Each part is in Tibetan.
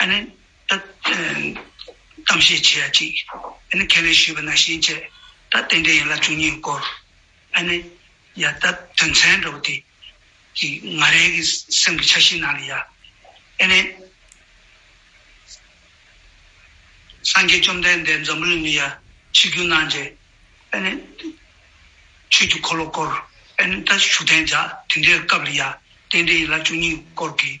གཏམ་བཤད་བྱེད་ཡ་ཅིག། ཁས་ལེན་ཞུས་པ་ན་ཤེས་མཆད། ད་རྟེན་འབྲེལ་ཡན་ལག་བཅུ་གཉིས་བསྐོར། ཡ། ད་དོན་ཚན་འགྲོ་བ་དེ། ང་རེ་གི་སེམས་ཀྱི་ཆ་ཤིས་ནང་ལ་ཡ། སངས་རྒྱས་བཅོམ་ལྡན་འདས་འཛམ་བུ་ལོན་མི་ཡ། ཕྱི་རྒྱུད་སྣང་མཇལ། ཆོས་ཀྱི་འཁོར་ལོ་བསྐོར། ད་བཞུགས་གདན་འཇགས་དེ་འདྲའི་སྐབས་ལ་ཡ། རྟེན་འབྲེལ་ཡན་ལག་བཅུ་གཉིས་བསྐོར་གྱིས།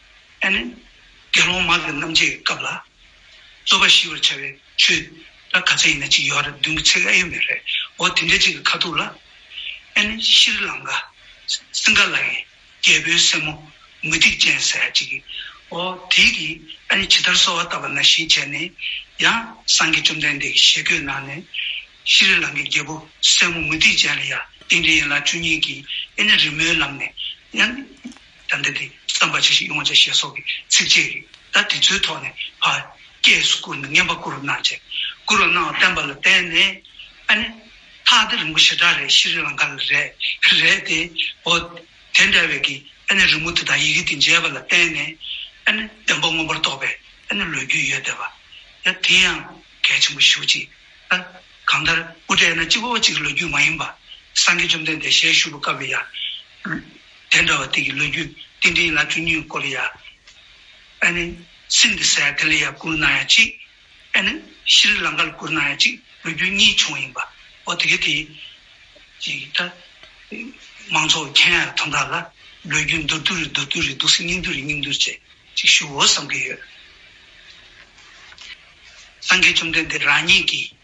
ཨེ་ནི། དགེ་སློང་མ་དེ་རྣམས་ཀྱི་སྐབས་ལ། རྩོད་པ་ཞི་བར་བྱ་བའི་ཆོས་ར་ག་ཚད་ཡིན་ན་གཅིག་ཡོད་རེད་བདུན་གྱི་ཚད་ཨེ་ཡོད་མེད་རེད་འོ་དེ་འདྲའི་གཅིག་གི་ཁ་ཐུག་ལ། ཨེ་ནི་ཤྲཱི་ལངྐ། སིངྒ་ལ་ཡི། རྒྱལ་པོའི་སྲས་མོ། མུ་སྟེགས་ཅན་ཟེར་ཡ་གཅིག་གི། འོ་དེའི་གི་ཨེ་ནི་ཇི་ལྟར་གསོལ་བ་བཏབ་པ་ན་བཞིན་བྱས་ནས། ཡང་སངས་རྒྱས་བཅོམ་ལྡན་འདས་ཀྱི་ཞལ་བཀོད་གནང་ནས། ཤྲཱི་ལངྐའི་རྒྱལ་པོ་སྲས་མོ་མུ་སྟེགས་ཅན་ལ་ཡ་དེ་འདྲའི་ཡིན་ལ་བཅུ་གཉིས་ཀྱིས་ཨེ་ནི་རི་མོའི་ལམ་ནས། ཡ་ནི། དང་འབྲེལ་ཏེ་བསམ་པ་ཇི་བཞིན་ཡོངས་བྱ་ཞེས་སོགས་ཀྱི་ཚིགས་བཅད་རེ་ད་དེ་ཚོའི་ཐོག་ནས་བར་བསྐྱེད་སུ་བསྐུར་ན་བསྙེན་པ་བསྐུར་བ་གནང་བྱས། བསྐུར་བ་གནང་བ་བསྟན་པ་ལ་བརྟེན་ནས་ཨ་ནི། ཐག་དེ་རིང་པོ་ཞེ་དྲག་རེད་ཤི་རི་ལང་ཀ་ལ་རེད་རེད་དེ། འོ། དེ་འདྲ་བའི་གི་ཨ་ནི་རི་མོ་དེ་དང་ཡི་གེ་དེ་མཇལ་བ་ལ་བརྟེན་ནས་ཨ་ནི་བདེན་པ་མངོན་པར་རྟོགས་པའི་ཨ་ནི་ལོས་རྒྱུས་ཡོད་བསྡད་པ། ཡ་དེ་ཡང་གལ་ཆེན་པོ་ཞུ་ཅིག་ཨ། གང་ལྟར་དབུ་སྐྲའི་ན་སྤྱི་བོ་བ་གཅིག་གི་ལོ་རྒྱུས་མ་ཡིན་པ། སངས་རྒྱས་བཅོམ་ལྡན་འདས་ཞལ་བཞུགས་པ་སྐབས་ལ་ཡ། དེ་འདྲ་བ་དེ་གི་ལོ་རྒྱུས་ཏིང་འབྲིང་ལ་བཅུ་གཉིས་ཀོ་རི་ཡ། ཨནི། སིན་དྷི་སའི་ཏི་ལི་ཡ་བསྐུར་གནང་ཡ་གཅིག། ཨནི། ཤི་རི་ལང་ཀ་ལ་བསྐུར་གནང་ཡ་གཅིག་ལོ་རྒྱུས་གཉིས་བྱུང་བ་ཡིན་པ། འོ་དེ་གི་དེ། ཅིག་ད། མང་ཚོགས་མཁྱེན་ཡ་ཐོམ་ར་ལ། ལོ་རྒྱུས་མདོར་བསྡུ་རི་མདོར་བསྡུ་རི་འདུག་སེ་སྙིང་བསྡུ་རི་སྙིང་བསྡུ་རི་བཅས་ཅིག་ཞུ་འོ་བསམ་གི་ཡོད། སངས་རྒྱས་བཅོམ་ལྡན་འདས་རང་ཉིད་ཀྱིས།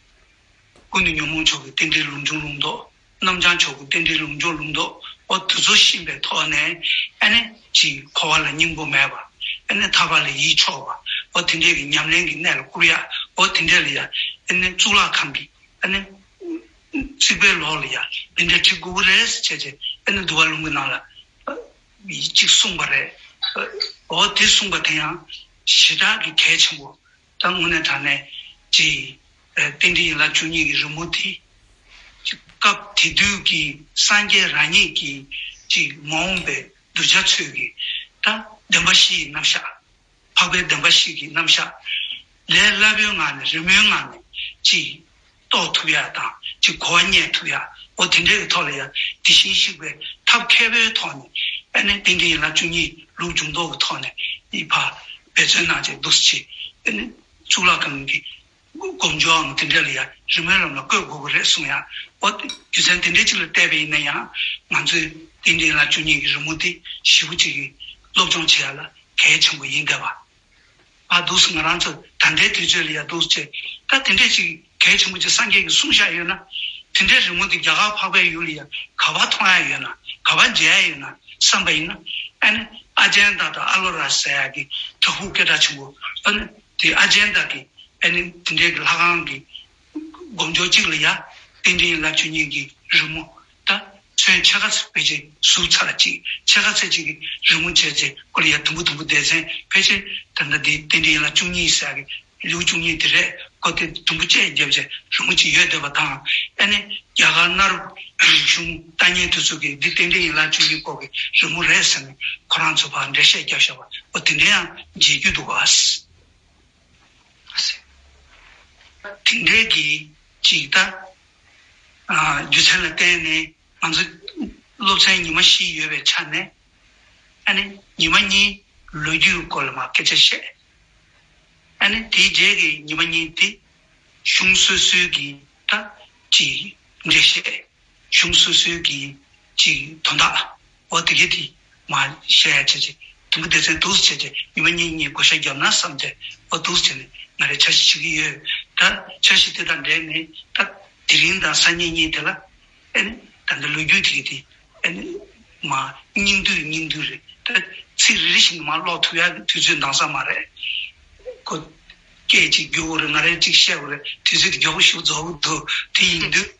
ཀུན་ཏུ་ཉོན་མོངས་ཕྱོགས་ཀྱི་རྟེན་འབྲེལ་ལུང་སྦྱོང་ལུང་རྟོགས། རྣམ་བྱང་ཕྱོགས་ཀྱི་རྟེན་འབྲེལ་ལུང་སྦྱོང་ལུང་རྟོགས་འོ། དུ་ཚོད་གཤིན་པའི་ཐོག་ནས་ཨེ་ནས་ཀྱི། འཁོར་བ་ལ་སྙིང་པོ་མེད་པ་ཨེ་ནས་ཐར་པ་ལས་ཡིད་ཕྱོགས་པ་འོ། དེ་འདྲའི་གི་ཉམས་ལེན་གྱི་གནད་ལ་བསྐུར་ཡ་འོ། དེ་འདྲའི་ལ་ཡ་ཨེ་ནས་གཙུག་ལག་ཁང་གི་ཨེ་ནས། རྩིག་པའི་ལོགས་ལ་ཡ་འདི་འདྲའི་གྲི་གུག་རེས་བྱས་བྱས་ཨེ་ནས་འདུ་བ་ལུང་གི་ནང་ལ། ཡིག་གཅིག་གསུངས་པ་རེད་འོ། དེ་གསུངས་པ་དེ་ཡང་ཞེ་དྲག་གི་གལ་ཆེན་པོ་ད་དངོས་གནས་དྲ་གནས་ཀྱི་རྟེན་འབྲེལ་ཡིན་ལ་ཆོས་ཉིད་ཀྱི་རི་མོ་དེ། སྐབས་དེ་དུས་ཀྱི་སངས་རྒྱས་རང་ཉིད་ཀྱི་ཀྱི་མ་འོངས་པའི་གདུལ་བྱ་ཚོས་ཀྱི་ད་བདེན་པ་བཞི་ཡི་རྣམ་གཞག། འཕགས་པའི་བདེན་པ་བཞི་ཀྱི་རྣམ་གཞག། ལས་སླ་པོའི་ངང་ནས་རི་མོའི་ངང་ནས་ཀྱི། རྟོགས་ཐུབ་ཡག་དང་ཅིག་གོ་བ་རྙེད་ཐུབ་ཡག་གོ་དེ་འདྲའི་ཐོག་ལ་ཡང་དེ་བཞིན་གཤེགས་པའི་ཐབས་མཁས་པོའི་ཐོག་ནས་ཨ་ནི་ཏིང་ཀྲི་ཡན་ལག་བཅུ་གཉིས་ལུགས་འབྱུང་ལྡོག་གི་ཐོག་ནས་ཨི་བྷ་འབད་བརྩོན་གནང་བྱས་འདུག་ཅེས་ཨ་ནི་གཙུག་ལག་ཁང་གི་སྒོམ་སྦྱོར་འམ་དེ་འདྲ་ལ་ཡང་རི་མོའི་ལམ་ལ་བཀོད་དགོས་པ་རེད་གསུངས་ཡག་གོ་རྒྱུ་མཚན་དེ་འདྲའི་ཅིག་ལ་བལྟས་པ་ཡིན་ན་ཡང་ང་ཚོས་ཏིང་ཀྲི་ཡན་ལག་བཅུ་གཉིས་ཀྱི་རི་མོ་དེ་ཞིབ་པོ་ཅིག་གིས་སློབ་སྦྱོང་བྱེད་ཡག་ལ་གལ་ཆེན་པོ་ཡིན་གདའ་བ། པ་འདུག་ཟེར་ང་རང་ཚོ་ད་ལྟའི་དུས་ཚོད་ལ་ཡག་འདུག་ཅེས་ད་དེ་འདྲས་ཅིག་གལ་ཆེན་པོ་ཅིག་སངས་རྒྱས་ཀྱི་གསུང་བཞག་ཡོད་ན། དེ་འདྲའི་རི་མོ་དེ་རྒྱ་གར་འཕགས་པའི་ཡུལ་ལ་ཡང་ག་བར་མཐོང་ཡ་ཡོད་ན་ག་བར་མཇལ་ཡ་ཡོད་ན་བསམ་པ་ཡིན་ན། ཨ་ནི་ཨ་ཇན་དག་དང་ཨ་ལོ་ར་ཟེར་ཡ་གི་དྲག་ཕུག་སྐད་གྲགས་ཆེན་པོ་ཨ་ནི་དེ་ཨ་ཇན་དག་གིས་ཨ་ནི་དེ་འདྲས་ཀྱི་ལྷ་ཁང་གི་སྒོ་མདོག་གཅིག་ལ་ཡ། རྟེན་འབྲེལ་རླབས་ཆུ་གཉིས་ཀྱི་རི་མོ། ད། ཚོན་ཆ་ག་ཚད་བེད་སྤྱད་ཟུག་ཚ་ལ་གཅིག་ཆ་ག་ཚད་གཅིག་གི་རི་མོ་བྱས་ཚེ་ཁོ་ལ་ཡ་དུམ་བུ་དུམ་བུ་བསྡད་ཚན་ཕལ་ཆེར་དེ་འདྲ་དེ་རྟེན་འབྲེལ་རླབས་ཆུ་གཉིས་ཟེར་གི་ལེའུ་བཅུ་གཉིས་དེ་རེད་ཁོ་དེ་དུམ་བུ་བཅད་བརྒྱབ་ཚེ་རི་མོ་གཅིག་ཡོད་བསྡད་པ་དང། ཨེ་ནི། རྒྱ་གར་གནའ་རབས་རིག་གཞུང་ལྟ་ཉན་དུས་ཚོད་ཀྱིས་འདི་རྟེན་འབྲེལ་ཡིན་རླབས་ཆུ་གཉིས་སྐོར་གྱི་རི་མོ་རེད་ཟེར་ནས་ཁོ་རང་ཚོས་བར་འགྲེལ་བཤད་བརྒྱབ་བཞག་པ་འོ་དེ་འདྲའི་ཡང་བརྗེད་རྒྱུ་འདུག་གཱ། དེ་འདྲའི་གྱི་ཅིག་ལྟ། རྒྱུ་མཚན་ལ་བརྟེན་ནས་ང་ཚོ་སློབ་ཚན་ཉི་མ་བཞི་ཡོད་པའི་ཆ་ནས་ཨ་ནི་ཉི་མ་གཉིས་ལོ་རྒྱུས་སྐོར་ལ་མ་སྐད་ཆ་བཤད། ཨ་ནི་དེའི་རྗེས་ཀྱི་ཉི་མ་གཉིས་དེ་གཞུང་སོ་སོའི་གྱི་ལྟ་ཅིག་འདྲེ་བཤད། གཞུང་སོ་སོའི་གི་ཅིག་དོན་དག་འོ་དེ་གི་དེ་མ་བཤད་ཡ་བྱས་ཏེ་དུམ་བུ་སྡེ་ཚན་དུགས་སུ་བྱས་ཏེ་ཉི་མ་གཉིས་གཉིས་བགོ་བཤའ་བརྒྱབ་ན་བསམ་སྟེ་འོ་དུགས་སུ་བྱས་ནས་ང་རེ་འཆར་གཞི་བྱེད་གི་ཡོད་ད་འཆར་གཞི་དེ་དང་འབྲེལ་ནས་ད་དེ་རིང་དང་སང་ཉིན་གཉིས་དེ་ལ་ཨེ་ནི་ད་འདི་ལོ་རྒྱུས་དེ་གི་དེ་ཨེ་ནི་མ་སྙིང་དུས་སྙིང་དུས་རེད་ད་ཚིག་རེ་རེ་བཞིན་དུ་མ་ཀློག་ཐུབ་ཡ་དུས་ཚོད་འདང་ས་མ་རེད་གོ། སྐད་ཅིག་རྒྱུགས་འོ་རེད་ང་རེ་ཅིག་བཤད་འོ་རེད་དུས་ཚོད་དེ་མགྱོགས་པོ་ཞུགས་རྫོགས་འོ་དུས་དེ་ཡིན་དུས།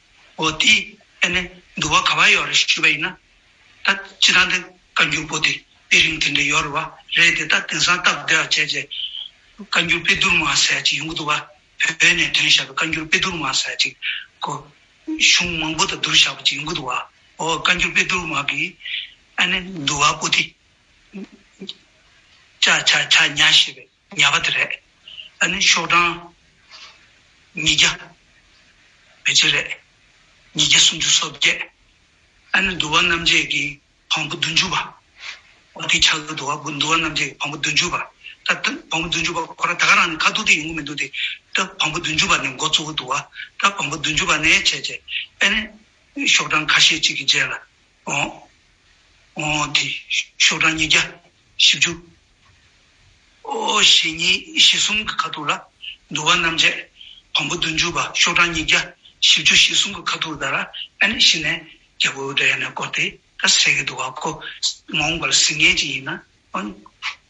འོ་དེས་ཨེ་ནས་འདུག་བ་ག་བ་ཡོད་རེད་ཞུས་པ་ཡིན་ན། ད་ཅི་ཐང་དེ་བཀའ་འགྱུར་པོ་དེ་དཔེ་རིང་དེ་འདྲ་ཡོད་རེད་བ་རེད་དེ་ད་དེང་སང་སྟབས་བདེ་བ་བྱས་རྗེས། བཀའ་འགྱུར་དཔེ་བསྡུར་མ་ཟེར་ཅིག་ཡོང་གི་འདུག་བ། བོད་ནས་དོན་བཞག་པའི་བཀའ་འགྱུར་དཔེ་བསྡུར་མ་ཟེར་ཅིག་གོ། གཞུང་མང་པོ་དང་བསྡུར་བཞག་པ་ཅིག་ཡོང་གི་འདུག་བ། འོ་བཀའ་འགྱུར་དཔེ་བསྡུར་མ་གིས་ཨེ་ནས་འདུག་བ་པོ་དེ། ཆ་ཆ་ཆ་ཉ་ཞེས་པའི། ཉག་ག་དེ་རེད། ཨ་ནི་ཤོག་གྲངས། ཉིས་བརྒྱ། བེ་ཅི་རེད། ཉིས་བརྒྱ་སུམ་ཅུ་སོ་བརྒྱད། ཨ་ནི་འདུལ་བ་རྣམ་འབྱེད་ཀྱི་བམ་པོ་བདུན་ཅུ་པ། ཨོ་དེ་ཆ་གི་འདུལ་བ་འདུལ་བ་རྣམ་འབྱེད་ཀྱི་བམ་པོ་བདུན་ཅུ་པ། ད་སྟབས་བམ་པོ་བདུན་ཅུ་པ་ཁོ་ར་ད་ག་རང་ནི་ཁ་ཐུག་དེ་ཡོང་གི་མི་འདུག་དེ། སྟབས་བམ་པོ་བདུན་ཅུ་པ་ནི་མགོ་གཙོ་བོ་འདུག་བ། སྟབས་བམ་པོ་བདུན་ཅུ་པ་ནས་བྱས་བྱས། ཨ་ནི། ཤོག་གྲངས་ཁ་ཤས་ཅིག་གི་རྗེས་ལ། དེ། ཤོག་གྲངས་ཉིས་བརྒྱ་བཞི་བཅུ། ཞེ་གཉིས་ཞེ་གསུམ་གྱི་ཁ་ཐུར་ལ། འདུ་བ་རྣམ་བཅད་བམ་པོ་བདུན་བཅུ་པ་ཤོག་གྲངས་ཉིས་བརྒྱ་བཞི་བཅུ་ཞེ་གསུམ་གྱི་ཁ་ཐུར་དར་ཨ་ནི་ཤི་ནས་རྒྱལ་པོའི་འདྲ་ཡལ་ནས་བསྐོར་ཏེ་ད་ཟེར་གྱི་འདུག་བ་ཁོ་མ་འོངས་པར་ཟིན་ངེས་ཅི་ཡིན་ན།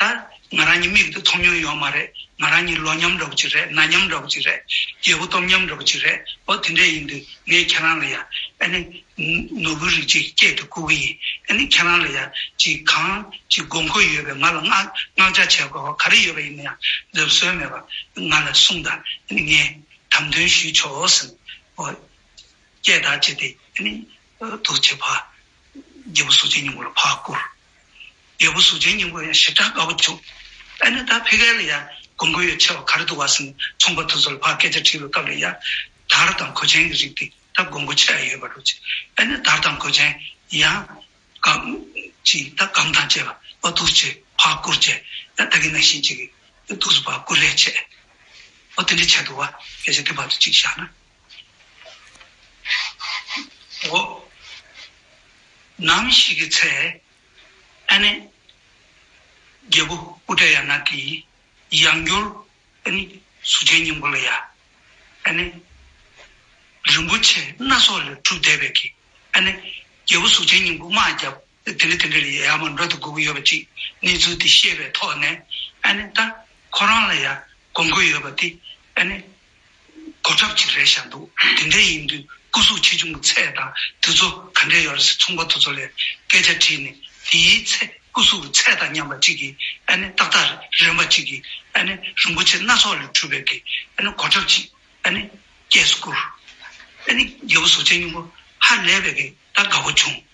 ད། ང་རང་གཉིས་མིག་ཏུ་མཐོང་མྱོང་ཡོད་མ་རེད། ང་རང་གཉིས་ལོ་མཉམ་འདྲ་བོ་གཅིག་རེད་སྣ་མཉམ་འདྲ་བོ་གཅིག་རེད། རྒྱལ་པོ་སྟོབས་མཉམ་འདྲ་བོ་གཅིག་རེད་འོ་དེ་འདྲས་ཡིན་དུས་ངས་ཁྱེད་རང་ལ་ཡ། ཨ་ནི། ནོར་བུའི་རིགས་ཅིག་སྐྱེས་དུ་བསྐུར་གི་ཡིན། ཨ་ནི་ཁྱེད་རང་ལ་ཡ། ཅིག་གང། ཅིག་དགོས་མཁོ་ཡོད་པའི་ང་ལ་མངགས་བྱ་བྱེད་དགོས་བ་ག་རེ་ཡོད་པ་ཡིན་ན་ཡང་ལབ་སྲོལ་མེད་པ། ང་ལ་གསུངས་ད། ཨ་ནི་ངས། དམ་དོན་ཞུས་ཆོག་ཟེར། འོ། སྐྱས་དག་བྱས་ཏེ་ཨ་ནི། འདུག་བྱེད་ཕ། རྒྱལ་པོ་གཟུགས་ཅན་ཉུང་པོ་ལ་ཕ་བསྐུར། རྒྱལ་པོ་གཟུགས་ཅན་སྙིང་པོ་ཡང་ཞིབ་ཕྲ་དཀའ་བོ་བྱུང། ཨ་ནི་ད་ཕི་ག་ལ་ཡང་གོམས་གོས་ཡོད་ཆེ་བ་ག་རེ་འདུག་བ་སེམས་ཚོང་པ་དུ་ཚོ་ལ་ཕ་སྐད་ཆ་དྲིས་པའི་སྐབས་ལ་ཡང། དར་དང་གོས་ཅན་གྱི་རིགས་དེ་ད་གོམས་གོས་ཆེ་ཡ་ཡོད་པ་རུ་ཆེ། ཨ་ནི་དར་དང་གོས་ཅན་ཡང། གམ། ཅིག་ད་གམ་དང་བཅས་པ་བ་དུ་ཚོ་ཆེ་ཕ་བཀུར་ཆེ། ད་ད་གི་ན་ཤིན་ཅིག་གི་དུ་ཚོ་ཕ་བཀུར་ལས་ཆེ། ཨོ་དེ་འདྲའི་ཆེ་འདུག་བ་སྐད་ཆ་དེ་བ་དུ་ཅིག་བཞག་ན། ནམ་ཞིག་གི་ཚེ། ཨ་ནེ། རྒྱལ་པོ་དབུ་སྐྲ་ཡག་ནག་གི། ཡང་སྒྱུར། ཨ་ནེ། གཟུགས་ཅན་སྙིང་པོ་ལ་ཡ། ཨ་ནེ། རིན་པོ་ཆེ་སྣ་ཚོགས་ལས་གྲུབ་བཟླས་པས་ཀྱི། ཨ་ནེ། རྒྱལ་པོ་གཟུགས་ཅན་སྙིང་པོ་དམག་བརྒྱ། དེ་ལས་དེ་འདྲ་ཡི་ཡ་མ་འགྲོ་དུ་སྒུག་ཡོད་པ་ཅིག་གནས་ཚུལ་དེ་ཤེས་པའི་ཐོག་ནས་ཨ་ནི་ད་ཁོ་རང་ལ་ཡ་དགོས་མཁོ་ཡོད་པ་དེ་ཨ་ནི་གོ་ཁྲབ་ཅིག་རེད་ཤག་འདུག་དེ་འདྲ་ཡིན་དུས་སྐུ་གཟུགས་ཆེ་ཆུང་གི་ཚད་དང་དེ་ཚོ་ག་འདྲས་ཡོད་རེད་ཟེར་ཚོང་པ་དེ་ཚོ་ལས་སྐད་ཆ་དྲིས་ནས་དེའི་ཚེ་སྐུ་གཟུགས་ཀྱི་ཚད་དང་མཉམ་པ་ཅིག་གིས་ཨ་ནི་ཏག་ཏག་རེད་རན་པ་ཅིག་གིས་ཨ་ནི་རིན་པོ་ཆེ་སྣ་ཚོགས་ལས་གྲུབ་པའི་གི་ཨ་ནི་གོ་ཁྲབ་ཅིག་ཨ་ནི་སྐྱེས་སུ་བསྐུར། ཨ་ནི་རྒྱལ་པོ་གཟུགས་ཆེན་སྙིང་པོ་ཧ་ལས་པའི་གི་ད་དགའ་བོ་བྱུང།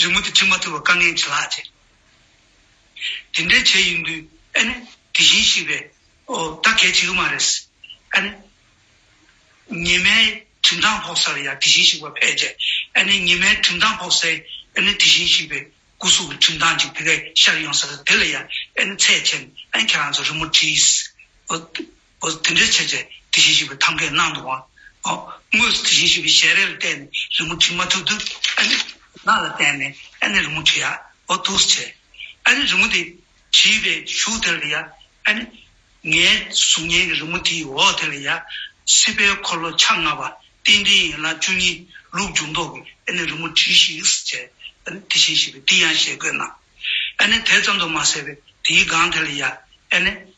རི་མོ་དེ་བྲི་མ་ཐུབ་པར་དཀའ་ངལ་ཇེ་ལྷག་ཆེ། དེ་འདྲའི་བྱས་ཡིན་དུས་ཨ་ནི་དེ་བཞིན་གཤིས་པས་ད་གལ་བྱེད་ཀྱི་མ་རེད། ཨ་ནི། ཉི་མའི་གྲིབ་མདངས་ཕོག་སར་ཡང་དེ་བཞིན་གཤིག་པ་ཕལ་ཆེ། ཨ་ནི་ཉི་མའི་གྲིབ་མདངས་ཕོག་སའི་ཨ་ནི་དེ་བཞིན་གཤིག་པའི་སྐུ་གཟུགས་ཀྱི་གྲིབ་མདངས་ཅིག་དེ་གས་ཤར་ཡོང་སར་དེ་ལ་ཡང་ཨ་ནི་ཚད་ཆེན་ཨ་ནི་ཁྱེད་རང་ཚོ་རི་མོ་བྲིས། འོ་དེ་འདྲའི་བྱས་ཚེ་དེ་བཞིན་གཤེགས་པའི་ཐམ་ཀའི་ནང་དུ་འོང། དངོས་སུ་དེ་བཞིན་གཤེགས་པའི་ཞལ་རས་ལ་བལྟས་ནས་རི་མོ་བྲིས་མ་ཐུབ་ཏུ། ཨ་ནི། ནགས་ལ་བལྟས་ནས་ཨ་ནི་རི་མོ་བྲི་ཡ། འོ་ཐུགས་སུ་ཆེ། ཨ་ནི་རི་མོ་དེ། བྲིས་པས་བཞུགས་དེ་ལ་ཡ། ཨ་ནི། ངའི་གཟུགས་བརྙན་གྱི་རི་མོ་དེ་ཡིས་འོ་དེ་ལ་ཡ། སྲིད་པའི་འཁོར་ལོ་ཕྱག་ལྔ་པ། རྟེན་འབྲེལ་ཡན་ལག་བཅུ་གཉིས་ལུགས་འབྱུང་ལྡོག་གི་ཨ་ནི་རི་མོ་བྲིས་ཤིགས་སུ་བྱས། ཨ་ནི་དེ་བཞིན་གཤེགས་པས་འདི་ཡང་ཞལ་བཀོད་གནང། ཨ་ནི་དེ་ཙམ་དུ་མ་ཟད་པས་དེའི་སྒང་དེ་ལ་ཡ། ཨ་ནི།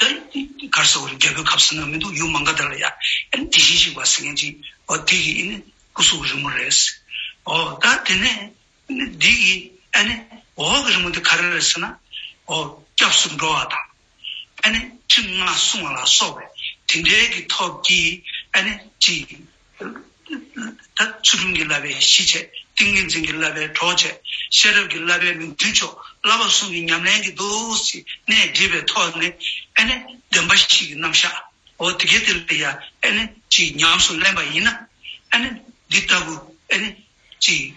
ད་གར་ཟེར་བ་རེད་རྒྱལ་པོའི་ཁབ་ཟེར་ན་མི་འདུག་ཡུལ་མང་ག་དེ་ར་ཡ་ཨན་དེ་བཞིན་ཞིག་བ་ཟེར་མཁན་ཅིག་བ་དེ་གི་ཨི་ནི་སྐུ་གཟུགས་རི་མོ་རེད། ཨོ་ད་དེ་ནས་འདི་གི་ཨ་ནི་འོག་གི་རི་མོ་དེ་ག་རེ་རེད་ཟེར་ན། ཨོ་སྐྱབས་སུ་འགྲོ་བ་དང། ཨ་ནི་ཁྲིམས་ལྔ་སྲུང་བ་ལ་སོགས་པའི་དེ་འདྲའི་གི་ཐོབ་ཀྱིས་ཨ་ནི་ཅིག་ད་ཆུ་ཀླུང་གི་བསླབ་པའི་གཞི་བྱས། ཏིང་ངེ་འཛིན་གྱི་བསླབ་པའི་གྲོགས་བྱས། ཤེས་རབ་ཀྱི་བསླབ་པའི་མིང་བསྒྲུན་མཆོག་བསླབ་པ་གསུམ་གྱི་ཉམས་ལེན་གྱི་འདུ་ཤེས་གནད་བསྒྲིལ་བའི་ཐོག་ནས་ཨེ་ནི་བདེན་པ་ཞིག་གི་རྣམ་གཞག་འོ་དེ་གས་དེ་ལ་ཡ་ཨེ་ནི་ཅིག་ཉམས་སུ་ལེན་པ་ཡིན་ན་ཨེ་ནི་འདི་ལྟ་བུ་ཨེ་ནི་ཅིག།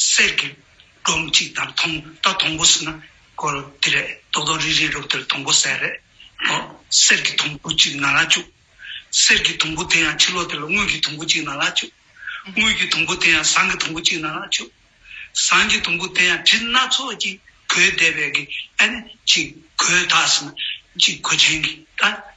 གསེར་གྱི་སྒྲོམ་གཅིག་དང་ཐོང་རྟ་དང་པོ་ཟེར་ན་སྐོར་དེ་རེད་རྡོག་རྡོག་རིལ་རིལ་རུབ་དེར་དང་པོ་ཟེར་རེད་དོ། གསེར་གྱི་དུམ་བུ་གཅིག་ནགས་ལ་བཅུག། གསེར་གྱི་དུམ་བུ་དེ་ཡང་ཕྱི་ལོགས་དེ་ལ་དངུལ་གྱི་དུམ་བུ་གཅིག་ནགས་ལ་བཅུག། དངུལ་གྱི་དུམ་བུ་དེ་ཡང་ཟངས་ཀྱི་དུམ་བུ་གཅིག་ནགས་ལ་བཅུག། ཟངས་ཀྱི་དུམ་བུ་དེ་ཡང་གྲི་སྣ་ཚོགས་ཀྱིས་གོས་བདེ་བས་ཀྱི་ཨ་ནི་གཅིག་གོས་དག་ཟེར་ན་གཅིག་གོས་ཆེན་གྱིས་དག།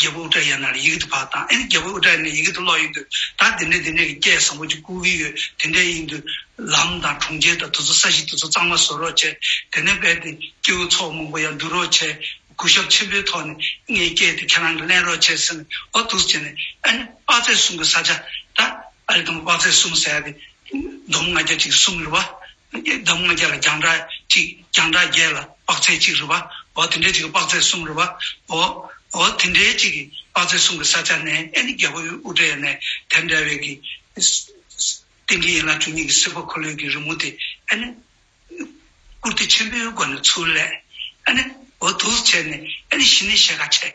རྒྱལ་པོ་ཨུཏྤལ་ཡར་ན་ལ་ཡི་གེ་འདི་བག་དང་ཨེ་རྒྱལ་པོ་ཨུཏྤལ་ཡར་ན་ཡི་གེ་འདི་ཀློག་ཡིན་དུས་ད་དེ་འདྲས་དེ་འདྲས་ཀྱི་སྐད་བཟང་པོ་ཅིག་བསྐུར་གི་ཡོད་དེ་འདྲས་ཡིན་དུས་ལམ་དང་གྲོང་ཁྱེར་དང་དུ་ཚོ་ས་གཞི་དེ་ཚོ་གཙང་མ་བཟོ་རོགས་བྱེད་དེ་ནས་རྦད་དེ་སྐྱེ་བོ་ཚོགས་མང་པོ་ཡང་འདུས་རོགས་བྱེད་གུས་ཞབས་ཆེན་པོའི་ཐོག་ནས་ངའི་སྐད་དེ་ཁྱེད་རང་གིས་གླེང་རོགས་བྱེད་ཟེར་ནས་འོ་དུགས་བྱས་ནས་ཨ་ནི་དཔག་ཚད་གསུམ་གྱི་ས་ཆ་ད་ཨ་རེ་དང་པོ་དཔག་ཚད་གསུམ་ཟེར་ཡ་དེ་འདོམ་ང་རྒྱ་གཅིག་གི་གསུམ་རེད་བ་བདག་མོ་བརྒྱ་ལ་རྒྱང་གྲགས་གཅིག་རྒྱང་གྲགས་བརྒྱད་ལ་དཔག་ཚད་གཅིག་རུ་བའོ། དེ་འདྲའི་གཅིག་གི་དཔག་ཚད་གསུམ་རུ་བའོ། དེ་འདྲའི་གཅིག་གི་དཔག་ཚད་གསུམ་གྱི་ས་ཆ་ནས་ཨེ་ནི་རྒྱལ་པོ་དབུ་སྐྲའི་ནས་དེར་འདྲ་བའི་གི། རྟེན་གྱི་ཡན་ལག་བཅུ་གཉིས་ཀྱི་སྲིད་པ་འཁོར་ལོའི་གི་རི་མོ་དེ་ཨེ་ནི། བཀུར་སྟི་ཆེན་པོའི་སྒོ་ནས་ཚུར་ལས་ཨེ་ནི། འོ་དུགས་བྱས་ནས་ཨེ་ནི་ཞི་ནི་ཞེས་ཁ་ཆེ།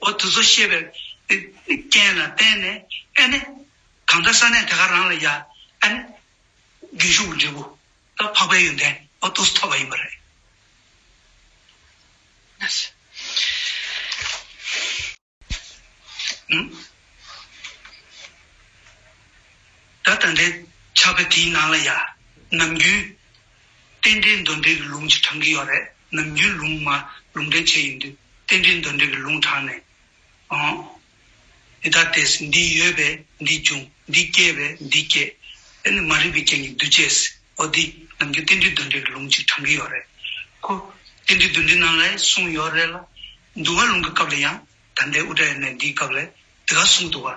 འོ་དུ་ཚོ་ཤེས་པའི་རྐྱེན་ལ་བརྟེན་ནས་ཨེ་ནི། གང་འདྲ་ས་གནས་དེ་ག་རང་ལ་ཡ་ཨེ་ནི། རྒྱུན་ཞུགས་ཀྱི་འབྲས་བུ་དང་འཕགས་པའི་ཡོན་ཏན་འོ་དུ་སུ་ཐོབ་པ་ཡིན་པ་རེད། ད་ད་འདྲའི་ཆགས་པའི་དེའི་ནང་ལ་ཡ། ནམ་རྒྱུན། རྟེན་འབྲེལ་འདོན་འབྲེལ་གྱི་ལུང་གཅིག་དྲངས་ཀྱི་ཡོད་རེད་ནམ་རྒྱུས་ལུང་མ་ལུང་འདྲེན་བྱས་ཡིན་དུས་རྟེན་འབྲེལ་འདོན་འབྲེལ་གྱི་ལུང་དྲངས་ནས་ཨང། འདི་ལྟར་དེས་འདི་ཡོད་པས་འདི་འབྱུང་འདི་སྐྱེས་པས་འདི་སྐྱེ། དེ་ནི་མ་རིག་པའི་རྐྱེན་གྱིས་འདུས་བྱས་འོ་འདི་ནམ་རྒྱུན་རྟེན་འབྲེལ་འདོན་འབྲེལ་གྱི་ལུང་གཅིག་དྲངས་ཀྱི་ཡོད་རེད་ཁུ། རྟེན་འབྲེལ་འདོན་འབྲེལ་ནང་ལས་གསུངས་ཡོད་རེད་ལ། འདུལ་བ་ལུང་གི་སྐབས་ལ་ཡང་ད་ལྟའི་དབུ་སྐྲ་ཡོད་ནས་འདིའི་སྐབས་ལས་དེ་ག་གསུངས་འདུག་ག།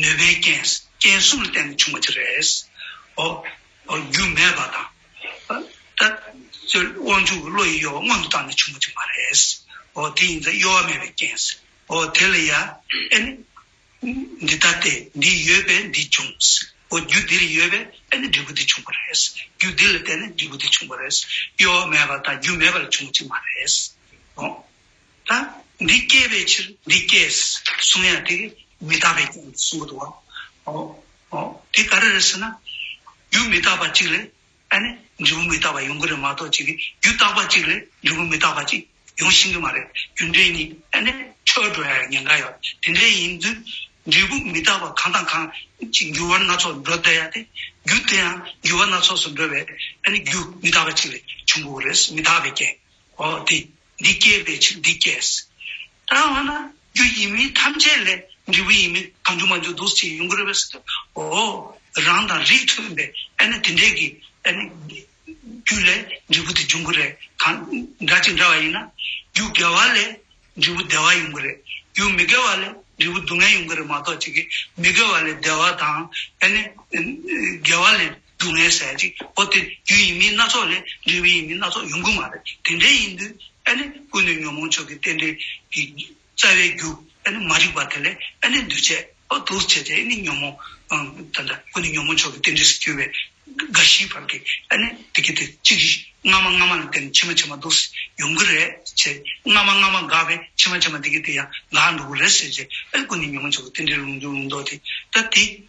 ནུས་པའི་རྐྱེན་རྐྱེན་གསུམ་ལ་བརྟེན་ནས་བྱུང་བ་དེ་རེད། འོ། རྒྱུ་མེད་པ་དང། ད། དབང་ཕྱུག་གི་བློ་ཡིས་གཡོ་བ་སྔོན་དུ་བཏང་ནས་བྱུང་བ་དེ་མ་རེད། འོ་དེ་ཡིན་ཙང་གཡོ་བ་མེད་པའི་རྐྱེན། འོ་དེ་ལ་ཡ། ཨེ། འདི་ལྟ་སྟེ་འདི་ཡོད་པས་འདི་བྱུང། འོ་རྒྱུ་འདི་རེ་ཡོད་པས་ཨེ་ནི་འབྲས་བུ་འདི་བྱུང་བ་རེད། རྒྱུ་འདི་ལ་བརྟེན་ནས་འབྲས་བུ་འདི་བྱུང་བ་རེད། གཡོ་བ་མེད་པ་དང་རྒྱུ་མེད་པ་ལས་བྱུང་བ་ཅིག་མ་རེད། འོ། ད་འདི་སྐྱེས་པའི་ཕྱིར་འདི་སྐྱེས་གསུང་ཡང་དེ་མི་རྟག་པས་ཀྱང་གསུང་གི་འདུག་བ། དེ་ག་རེ་རེད་ཟེར་ན། རྒྱུ་མི་རྟག་པ་གཅིག་ལས་འབྲས་བུ་མི་རྟག་པ་ཡོང་གི་རེད་མ་གཏོགས་གཅིག་རྒྱུ་རྟག་པ་གཅིག་ལས་འབྲས་བུ་མི་རྟག་པ་གཅིག་ཡོང་ཤིན་གི་མ་རེད་རྒྱུ་འབྲས་གཉིས་འཕྲོད་འགྲོ་ཡང་ཉེན་ཁ་ཡོད་དེ་འདྲས་ཡིན་དུས་འབྲས་བུ་མི་རྟག་པ་གང་དང་གང་གཅིག་འགྱུར་བ་སྣ་ཚོགས་འགྲོ་བསྡད་ཡ་དེ་རྒྱུ་དེ་ཡང་འགྱུར་བ་སྣ་ཚོགས་སུ་འགྲོ་བས་རྒྱུ་མི་རྟག་པ་གཅིག་ལས་བྱུང་གི་རེད་མི་རྟག་པའི་རྐྱེན་འོ་དེ། འདི་སྐྱེས་པའི་ཕྱིར་འདི་སྐྱེས། ད་ང་ན་རྒྱུ་ཡིན་མིན་ཐམས་ཅད་ལས་འབྲས་བུ་ཡིན་མིན་གང་འཇུག་མ་འཇུག་འདུ་བྱེད་ཡུལ་འགོར་བས་སོ། འོ། རང་དང་རིགས་མཐུན་པས་ཨེ་ན་དེ་འདྲས་ཀྱི། རྒྱུ་ལས་འབྲས་བུ་དེ་འབྱུང་གི་རེད། གང་འདྲ་ཅིག་འདྲ་བ་ཡིན་ན། རྒྱུ་དགེ་བ་ལས་འབྲས་བུ་བདེ་བ་ཡོང་གི་རེད། རྒྱུ་མི་དགེ་བ་ལས་འབྲས་བུ་སྡུག་བསྔལ་ཡོང་གི་རེད་མ་གཏོགས་ཅི་གི་མི་དགེ་བ་ལས་བདེ་བ་དང། དགེ་བ་ལས་སྡུག་བསྔལ་ཟད་ཅིག་ཨོ་སྟེ་རྒྱུ་ཡིན་མིན་སྣ་ཚོགས་ལས་འབྲས་བུ་ཡིན་མིན་སྣ་ཚོགས་ཡོང་གི་མ་རེད་དེ་འདྲའི་ཡིན་དུས་ཨེ་ནི་ཀུན་ནས་ཉོན་མོངས་ཆོས་ཀྱི་རྟེན་འབྲེལ་གྱི་རྩ་བའི་རྒྱུ་ཨེ་ནི་མ་རིག་པ་དེ་ལས་ཨེ་ནི་འདུས་བྱས་ཨོ་འདུ་བྱེད་དེ་ཨེ་ནི་ཉོན་མོངས་དེ་འདྲ་ཀུན་ནས་ཉོན་མོངས་ཆོས་ཀྱི་རྟེན་འབྲེལ་སུ་གྱུར་པའི་རྒ་ཤིའི་བར་གྱི་ཨེ་ནི་དེ་གྱི་དེ་གཅིག་གིས་སྔ་མ་སྔ་མ་ལ་བརྟེན་ནས་ཕྱི་མ་ཕྱི་མ་འདུག་ཟེར་ཡོང་གི་རེད་ཟེར་སྔ་མ་སྔ་མ་འགགས་པས་ཕྱི་མ་ཕྱི་མ་དེ་གྱི་དེ་ཡང་འགགས་འདུག་རེད་ཟེར་ཟེར་ཨེ་ནི་ཀུན་ནས་ཉོན་མོངས་ཆོས་ཀྱི་རྟེན་འབྲེལ་ལུང་རྒྱུན་ལུང་རྟོགས་དེ་ལྟ་དེ།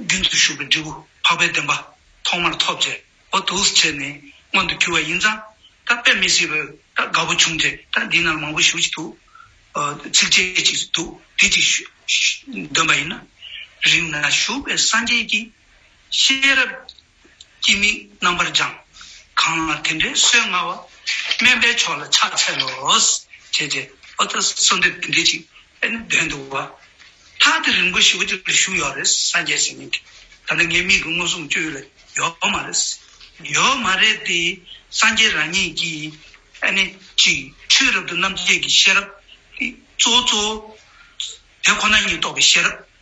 རྒྱུན་དུ་ཞུགས་པའི་འབྲས་བུ་འཕགས་པའི་བདེན་པ་ཐོག་མར་ཐོབ་ཅེས་འོ་དུགས་བྱས་ནས་མངོན་དུ་གྱུར་བ་ཡིན་ཙང་ད་དཔེ་མི་སྲིད་པས་ད་དགའ་བོ་བྱུང་སྟེ་ད་འདི་ན་མང་པོ་ཞུ་བྱེད་འདུག་ཚིགས་བཅད་ཅིག་འདུག་དེ་ཅིག་འདོན་པ་ཡིན་ན། རིང་ན་བཞུགས་པའི་སངས་རྒྱས་ཀྱིས་ཤེས་རབ། སྐྱེ་དམིགས་རྣམ་པར་སྦྱང། གང་ལ་དེ་འདྲའི་སྲོལ་མངའ་བ། དམན་པའི་ཕྱོགས་ལ་ཕྱག་འཚལ་ལོ། ཞེས་རྗེ་ཨོ་ཏི་བསོད་འདོད་བདུན་སྡེ་གཅིག་པས་ནི་འདོན་འདུག་བ། ཐག་དེ་རིང་པོ་ཞིག་བརྒྱུད་ལ་བཞུགས་ཡོད་རེད་སངས་རྒྱས་ཟེར་མིན་གྱིས་ད་ལྟ་ངའི་མིག་གི་མངོན་སུམ་བཅོས་ཡུལ་ལ་ཡོད་མ་རེད། ཡོད་མ་རེད་དེ། སངས་རྒྱས་རང་ཉིད་ཀྱིས་ཨ་ནི། གཅིག་ཆོས་རབ་ཏུ་རྣམ་འབྱེད་ཀྱི་ཤེས་རབ། གཙོ་བོ་གཙོ་བོ། དེ་ཁོ་ན་ཉིད་རྟོགས་པའི་ཤེས་རབ།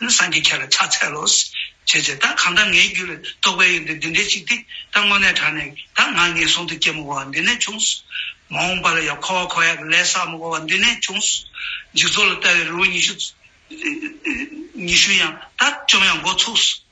ལུས་བསྲང་གིས་ཁྱེད་ལ་ཕྱག་འཚལ་ལོ། ཞེས་བྱ། བདག་གང་དག་ངའི་རྒྱུད་ལ་གཏོགས་པའི་ཡོན་ཏན་འདི་འདྲའི་ཅིག་དེ་ལྟར་དངོས་གནས་གྲགས་ནས་བདག་ང་ངེས་གསུང་དུ་སྐྱེལ་མོ་བ་འདི་ནས་བྱུང། མ་འོངས་པ་ལ་ཡང་འཁོར་བ་འཁོར་ཡག་གི་ལས་བསགས་མོ་བ་འདི་ནས་བྱུང། འཇིག་ཚོགས་ལ་ལྟ་བའི་རི་བོ་ཉི་ཤུ། ཉི་ཤུ་ཡང་དག་བཅོམ་ཡང་མགོ་ཚུགས།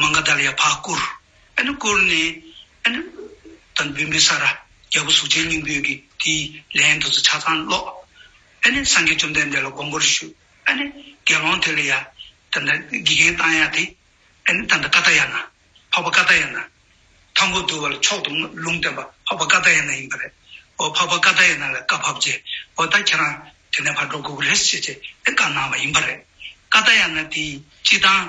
མཱ་ག་དཱ་ལའི་ཕ་བསྐུར། ཨེ་ནུ་བསྐུར་ནས། ཨེ་ནུ། དང་བུས་འབུལ་ས་ར། རྒྱལ་པོ་གཟུགས་ཅན་སྙིང་པོས་ཀྱིས་དེའི་ལན་དུ་ཆ་ཚང་ཀློག། ཨེ་ནི་སངས་རྒྱས་བཅོམ་ལྡན་འདས་ལ་དགོངས་པར་ཞུ། ཨེ་ནི། དགེ་སློང་དེ་ལ་ཡ། དང་ད། དགེ་རྒན་བཏང་ཡ་དེ། ཨེ་ནི་དང་ད་ཀ་ད་ཡ་ན། འཕགས་པ་ཀ་ད་ཡ་ན། ཐང་པོ་དུ་བ་ལ་མཆོག་ཏུ་ལུང་བསྟན་པ་འཕགས་པ་ཀ་ད་ཡ་ན་ཡིན་པ་རེད། འོ་འཕགས་པ་ཀ་ད་ཡ་ན་ལ་བཀའ་ཕབ་རྗེས་འོ་ད་ཁྱེད་རང་དེ་ནས་ཕར་འགྲོ་དགོས་ཀི་རེད་ཟེར་རྗེས་དེ་བཀའ་གནང་བ་ཡིན་པ་རེད། ཀ་ད་ཡ་ན་དེའི་སྤྱི་བཏང།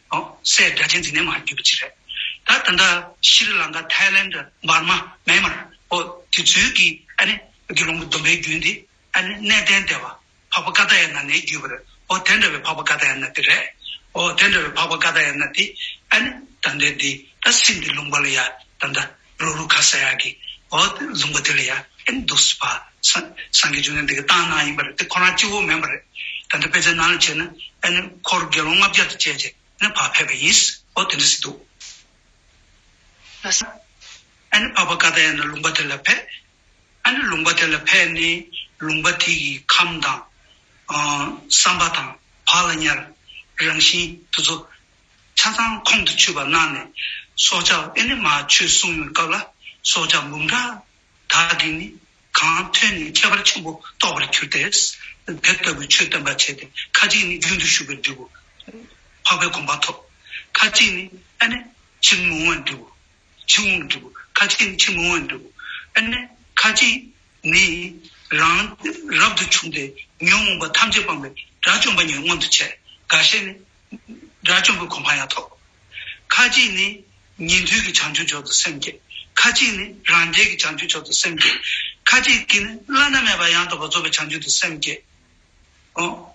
སའི་སྒྲ་གཅན་འཛིན་ནས་མར་བརྒྱུད་པ་གཅིག་རེད། ད་ད་ལྟ་ཤྲཱི་ལངྐ་ཐའི་ལན་དུ་འབར་མ་མན་མར་ཨོ་དེ་ཚུལ་གྱི་ཨ་ནི་དགེ་སློང་གི་སྡོམ་པའི་རྒྱུན་དེ་ཨ་ནི་གནས་བརྟན་དེ་བ་འཕགས་པ་ཀ་ད་ཡ་ན་ནས་བརྒྱུད་པར་ཨོ་དེ་འདྲ་བའི་འཕགས་པ་ཀ་ད་ཡ་ན་དེ་རེད་ཨོ་དེ་འདྲ་བའི་འཕགས་པ་ཀ་ད་ཡ་ན་དེ་ཨ་ནི་ད་འདྲ་དེ་ད་སེམས་དེ་ལུང་པ་ལ་ཡ་ད་འདྲ་རུ་རུ་ཁ་ས་ཡ་གི་འོ་ལུང་པ་དེ་ལ་ཡ་ཨེན་འདུག་སུ་པ་སང་གི་ཆུ་ནང་དེ་གི་ཏང་ནང་ཡིན་པ་རེད་དེ་ཁོ་རང་སྐྱིད་བོ་མེད་པ་རེད་ད་ལྟ་དཔེ་ཆ་ནང་ལ་བྱས་ན་ཨེ་ནི་ཁོར་དགེ་སློང་ལྔ་བརྒྱ་དུ་བཅད་རྗེས་ནི་བག་ཕེབས་པ་ཡིན་འོ་དེ་འདྲ་ཞིག་འདུག་ལ་ས་ཨེ་ནི་བག་པ་ཀ་ད་ཡ་ནི་ལུང་པ་དེ་ལ་ཕེ་ཨེ་ནི་ལུང་པ་དེ་ལ་ཕེ་ནི་ལུང་པ་དེ་གི་ཁམས་དང་བསམ་པ་དང་བག་ལ་ཉལ་རང་བཞིན་དེ་ཚོ་ཆ་ཚང་ཁོང་དུ་ཆུད་པར་གནང་ནས། སྲོག་ཆགས་ཨེ་ནི་མ་ཆོས་གསུང་མོལ་སྐབས་ལ་སྲོག་ཆགས་འབུམ་ཕྲག་དག་གིས་ནི་གང་ཐོས་ནས་ཁྱད་པར་ཆེན་པོ་རྟོགས་པར་གྱུར་ཏེ། དེ་ལྟ་བུའི་ཆོས་སྟོན་པར་བྱེད་དེ་ཁ་ཅིག་ནི་རྒྱུན་དུ་ཞུགས་པས་འགྲིབ་བོ། འཕགས་པའི་དགོངས་པ་ཐོབ། ཁ་ཅིག་ནི་ཨེ་ནི་ཕྱིར་མི་འོང་བས་འགྲིབ་བོ། ཕྱིར་འོང་བས་འགྲིབ་བོ། ཁ་ཅིག་ནི་ཕྱིར་མི་འོང་བས་འགྲིབ་བོ། ཨེ་ནི་ཁ་ཅིག་ནི། རང་རབ་ཏུ་བྱུང་སྟེ་ཉོན་མོངས་པ་ཐམས་ཅད་སྤངས་པའི་དགྲ་བཅོམ་པ་ཉིད་མངོན་དུ་བྱས། འགའ་ཤས་ནི་དགྲ་བཅོམ་པའི་གོ་འཕང་ཡང་ཐོབ། ཁ་ཅིག་ནི། ཉན་ཐོས་ཀྱི་བྱང་ཆུབ་མཆོག་ཏུ་སེམས་བསྐྱེད། ཁ་ཅིག་ནི། རང་རྒྱལ་གྱི་བྱང་ཆུབ་མཆོག་ཏུ་སེམས་བསྐྱེད། ཁ་ཅིག་གིས་ནི། བླ་ན་མེད་པ་ཡང་དག་པར་རྫོགས་པའི་བྱང་ཆུབ་ཏུ་སེམས་བསྐྱེད།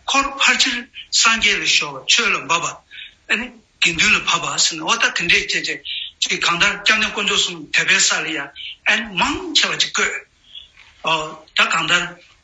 འཁོར་ཕར་ཕྱིར་སངས་རྒྱས་ལ་ཤོར་བ་ཆོས་ལ་འབབ་པ། ཨེ་ནི། དགེ་འདུན་ལ་བབ་པ་སེམས་ནི་འོ་ད་དེ་འདྲས་སྐྱེད་ཅེས་ཀྱིས་གང་ལྟར་སྐྱབས་གནས་དཀོན་མཆོག་གསུམ་དད་པའི་ས་ལ་ཡང། ཨེ་ནི། མང་ཆེ་བ་ཅིག་བཀོད། ད་གང་ལྟར།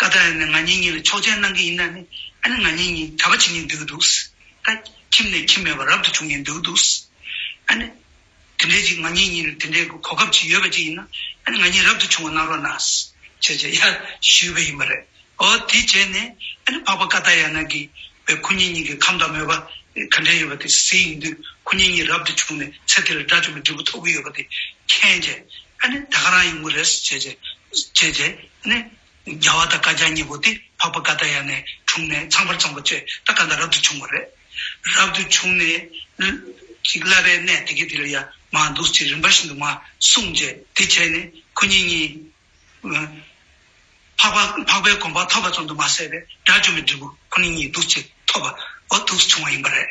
ཀ་ད་ཡ་ནས་ང་གཉིས་གཉིས་ལ་ཆོག་མཆན་གནང་གི་ཡིན་ན་ནི་ཨ་ནི་ང་གཉིས་གཉིས་གྲྭ་པ་བྱེད་ངེས་འདུག་གི་འདུག་ད། ཁྱིམ་ནས་ཁྱིམ་མེད་པ་རབ་ཏུ་བྱུང་ངེས་འདུག་གི་འདུག་ཨ་ནི། དེ་འདྲའི་ཅིག་ང་གཉིས་གཉིས་ལ་དེ་འདྲའི་གོ་སྐབས་ཅིག་ཡོད་པ་ཅིག་ཡིན་ན་ཨ་ནི་ང་གཉིས་རབ་ཏུ་བྱུང་བ་གནང་རོགས་གནང། བྱས་བྱས་ཡ། ཞུས་པ་ཡིན་པ་རེད། ཨོ་དེ་བྱས་ནས་ཨ་ནི་འཕགས་པ་ཀ་ད་ཡ་ན་གི་བའི་ཁུ་ཉིན་གཉིས་ཀྱི་ཁམས་དང་མོས་པ་ག་འདྲའི་ཡོད་པ་དེ་གཟིགས་ཡིན་དུས་ཁུ་ཉིན་གཉིས་རབ་ཏུ་བྱུང་ནས་ཚེ་དེ་ལ་དགྲ་བཅོམ་པའི་འབྲས་བུ་ཐོབ་ཀྱི་ཡོད་པ་དེ་མཁྱེན་བྱས། ཨ་ནི་ད་ཁ་རང་ཡོང་གི་རེད། བྱས་བྱས་བྱས་རྗེས་ནི། རྒྱ་བ་དང་བཀའ་རྒྱ་གཉིས་པོ་དེ་འཕགས་པ་ཀ་ད་ཡ་ནས་འཁྲུངས་ནས་ཚངས་པར་སྤྱངས་པ་ཆོས་ད་ཀ་འདའ་རབ་ཏུ་བྱུང་བ་རེད། རབ་ཏུ་བྱུང་ནས། ཅིག་བསླབ་པའི་གནས་དེ་གའི་དེ་ལ་ཡ་མ་འདུག་ཅེས་རིམ་པ་བཞིན་དུ་མ་གསུངས་རྗེས་དེ་བྱས་ནས་ཁོ་གཉིས་གཉིས། འཕགས་པའི་གོམ་པ་ཐོབ་པ་ཙམ་དུ་མ་ཟད་པའི་དགྲ་བཅོམ་པའི་འབྲས་བུ་ཁོ་ན་གཉིས་འདུག་ཅེས་ཐོབ་པ་འོ་ཐུགས་སུ་བྱུང་བ་ཡིན་པ་རེད།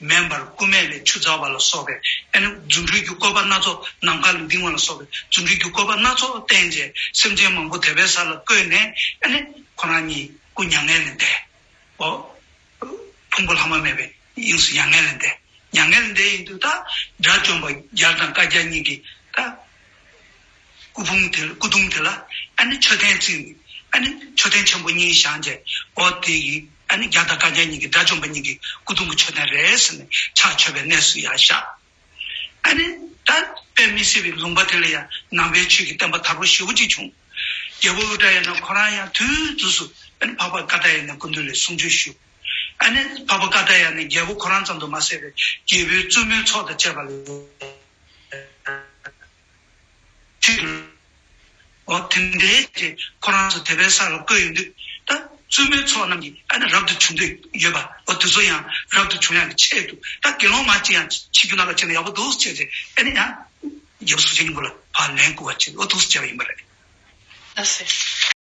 མེ་འབར་སྐུ་སྨད་ལས་ཆུ་འཛག་པ་ལ་སོགས་པའི་ཨེ་ནུ་རྫུ་འཕྲུལ་གྱི་བཀོད་པ་སྣ་ཚོགས་ནམ་མཁའ་ལ་ལྡིང་བ་ལ་སོགས་པའི་རྫུ་འཕྲུལ་གྱི་བཀོད་པ་སྣ་ཚོགས་བསྟན་རྗེས་སེམས་ཅན་མང་པོ་དད་པའི་ས་ལ་བཀོད་ནས་ཨེ་ནི་ཁོ་རང་ཉིད་སྐུ་མྱ་ངན་ལས་འདས། ཨོ། ཕུང་པོ་ལྷག་མ་མེད་པའི་དབྱིངས་སུ་མྱ་ངན་ལས་འདས། མྱ་ངན་ལས་འདས་ཡིན་དུ་ད་དགྲ་བཅོམ་པ་བརྒྱ་དང་བཀའ་བརྒྱ་གཉིས་ཀྱིས་ད། སྐུ་ཕུང་དེ་སྐུ་གདུང་དེ་ལ་ཨ་ནི་མཆོད་རྟེན་བརྩིགས་ནས་ཨ་ནི་མཆོད་རྟེན་ཆེན་པོ་གཉིས་བཞེངས་རྗེས་འོ་དེ་ཡིས་ཨ་ནི་རྒྱ་དང་བཀའ་རྒྱ་གཉིས་ཀྱི་དགྲ་བཅོམ་པ་གཉིས་ཀྱི་སྐུ་གདུང་གི་མཆོད་རྟེན་རེད་ཟེར་ནས་ཕྱག་མཆོད་པའི་གནས་སུ་ཡང་བཞག། ཨ་ནི་ད་དཔེ་མི་སྲིད་པའི་ལུང་པ་དེ་ལ་ཡང་ནང་པའི་ཆོས་ཀྱི་བསྟན་པ་དར་པོ་ཞེ་བོ་གཅིག་བྱུང། རྒྱལ་པོ་ཨུ་ཏྲ་ཡ་ན་ཁོ་རང་ཡང་དུས་དུས་སུ་ཨ་ནི་འཕགས་པ་ཀ་ཏཱ་ཡ་ནའི་སྐུ་མདུན་ལས་གསུང་ཆོས་ཞུ། ཨ་ནི་འཕགས་པ་ཀ་ཏཱ་ཡ་ནས་རྒྱལ་པོ་ཁོ་རང་ཙམ་དུ་མ་ཟད་པའི་རྒྱལ་པོའི་བཙུན་མོའི་ཚོགས་དང་བཅས་པ་ལ། ཅིག་ལ། འོ་དེ་འདས་རྗེས་ཁོ་རང་ཚོ་དེ་པའི་ས་ལ་བཀོད་ཡོད་འདུག་ད། བཙུན་མོའི་ཚོགས་རྣམས་ཀྱིས་ཨ་ནི་རབ་ཏུ་བྱུང་འདོད་ཡོད་པ་འོ་དེ་ཚོ་ཡང་རབ་ཏུ་བྱུང་ཡག་གི་ཆད་འདུག་ད་དགེ་སློང་མ་ཅི་ཡང་ཕྱི་རྒྱུ་ན་ལ་ཁྱེར་ན་ཡག་པོ་འདུག་ཅེས་རེད་ཨེ་ནི་ཡང། རྒྱལ་པོ་སུ་ཅིག་ནི་འགོ་ལ་བག་ལན་བསྐུར་བ་བྱས་འོ་ཐུགས་སུ་བཅར་བ་ཡིན་པ་རེད། ད་ཟེར།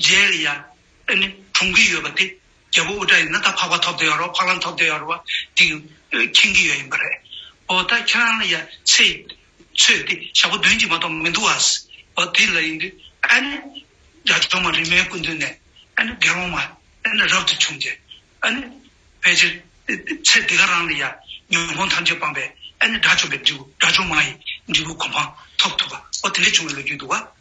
རྗེས་ཡ། ཨེ་ནི། གྲོངས་ཀྱི་ཡོད་པ་དེ། རྒྱལ་པོ་དབུ་སྐྲ་ཡིན་ན་ད་འཕགས་པ་ཐོབ་དོ་ཡག་རོགས་འཕགས་ལམ་ཐོབ་དོ་ཡག་རོགས་བ་དེ། མཁྱེན་གྱི་ཡོད་ཡིན་པ་རེད། འོ་ད་ཁྱེད་རང་ལ་ཡ། ཚེ། ཚོས་དེ་ཞག་པོ་འདོན་གྱི་མ་གཏོགས་མི་འདུག་ཨཱས། འོ་དེ་ལ་ཡིན་དུས། ཨཱ་ནི། རྒྱ་གྲོང་མ་རིས་མའི་སྐུ་མདུན་ནས། ཨཱ་ནི། དགེ་སློང་མ། ཨཱ་ནི། རབ་ཏུ་བྱུང་སྟེ། ཨཱ་ནི། ཕལ་ཆེར། ཚེ་འདི་ག་རང་ལ་ཡ། ཉོན་མོངས་ཐམས་ཅད་སྤངས་པས། ཨཱ་ནི། དགྲ་བཅོམ་པའི་འབྲས་བུ་དགྲ་བཅོམ་མ་ཡི། འབྲས་བུ་གོ་འཕང། ཐོབ་ཐུབ་པ། འོ་དེ་འདྲས་བྱུང་བའི་ལོ་རྒྱུས་འདུག་ཨཱ།